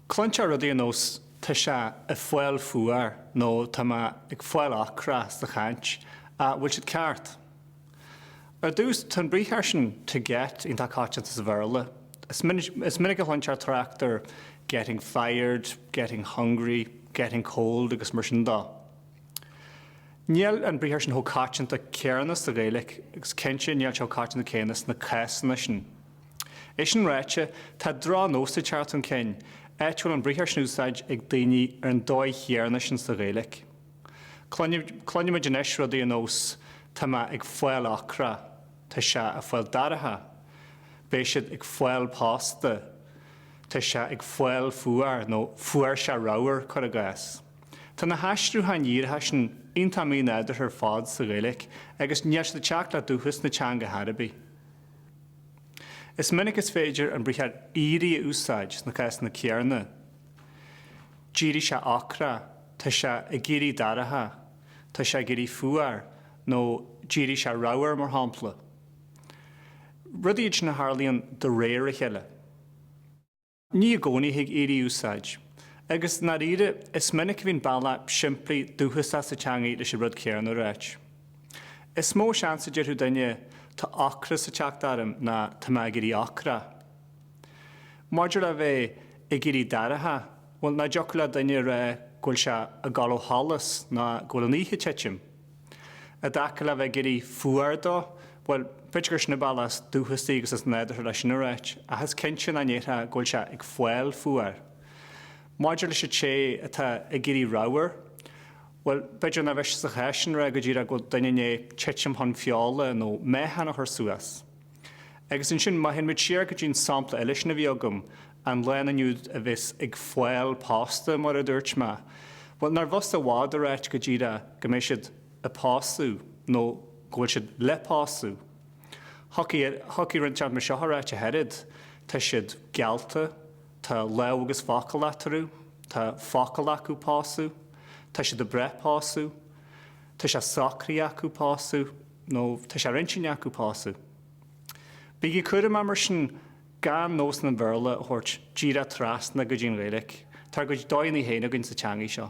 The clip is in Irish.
Cluintear rudaí ar nós tá sé ag fáil fuar nó tá mé ag fáil ocrach sa chaint. An bhfuil siad ceart? Ar dtús, tá an briathar sin to get iontach coitianta sa Bhéarla. Is minic a chluintear trácht ar getting fired, getting hungry, getting cold agus mar sin dó. Níl an briathar sin chomh coitianta céanna sa Ghaeilge agus cinnte níl sé chomh coitianta céanna sna cásanna sin. É sin ráite, tá drochnós ag teacht chun cinn, áit a bhfuil an briathar sin in úsáid ag daoine ar an dóigh chéanna sin sa Ghaeilge. Cluinimid anois rudaí ar nós tá mé ag fáil ocrach, tá sé ag fáil dorcha, beidh siad ag fáil pósta, tá sé ag fáil fuar nó fuair sé ramhar, cuir i gcás. Tá na haistriúcháin dhíreacha sin iontach mínádúrtha ar fad sa Ghaeilge agus níl siad ag teacht le dúchas na teanga chor ar bith. Is minic is féidir an briathar 'éirí' a úsáid sna cásanna céarna, d'éirigh sé ocrach, tá sé ag éirí dorcha, tá sé ag éirí fuar, nó d'éirigh sé ramhar, mar shampla. Rudaí iad sin a tharlaíonn de réir a chéile. Ní i gcónaí a thig éirí a úsáid, agus i ndáiríre, is minic a bhíonn bealach simplí dúchasach sa teangaidh leis an rud céanna a ráit. Is mó seans a déarfadh duine, Tá ocras ag teacht orm ná Tá mé ag éirí ocrach. Maidir le bheith ag éirí dorcha, bhuel, nach dtiocfadh le duine a rá go bhfuil sé ag gabháil ó sholas nó go bhfuil an oíche ag titim. I dtaca le bheith ag éirí fuar dó, bhuel, b'fhéidir gur sin an bealach is dúchasaí agus is nádúrtha leis sin a ráit, ach is cinnte nach ndéarfá go bhfuil sé ag fáil fuar. Maidir leis an té atá ag éirí ramhar, bhuel, b'fhéidir nár mhiste sa chás sin a rá go díreach go bhfuil duine i ndiaidh titim chun feola nó meáchan a chur suas, Agus ansin, má théann muid siar go dtí an sampla eile sin a bhí agam, an lánúin úd a bheas ag fáil pósta, mar a dúirt mé. Bhuel, nárbh fhusa i bhfad a ráit go díreach go mbeidh siad ag pósadh nó go bhfuil siad le pósadh? Thiocfadh, thiocfadh rud inteacht mar seo a ráit, ach oiread, tá siad geallta, tá lámh agus focal eatarthu, tá focal acu pósadh, tá siad ag brath pósadh, tá sé socraithe acu pósadh. nó tá sé ar intinn acu pósadh. Bígí cúramach mar sin gan nósanna an Bhéarla a thabhairt díreach trasna go dtí an Ghaeilge, tá ár gcuid dóigheanna féin againn sa teangaidh seo.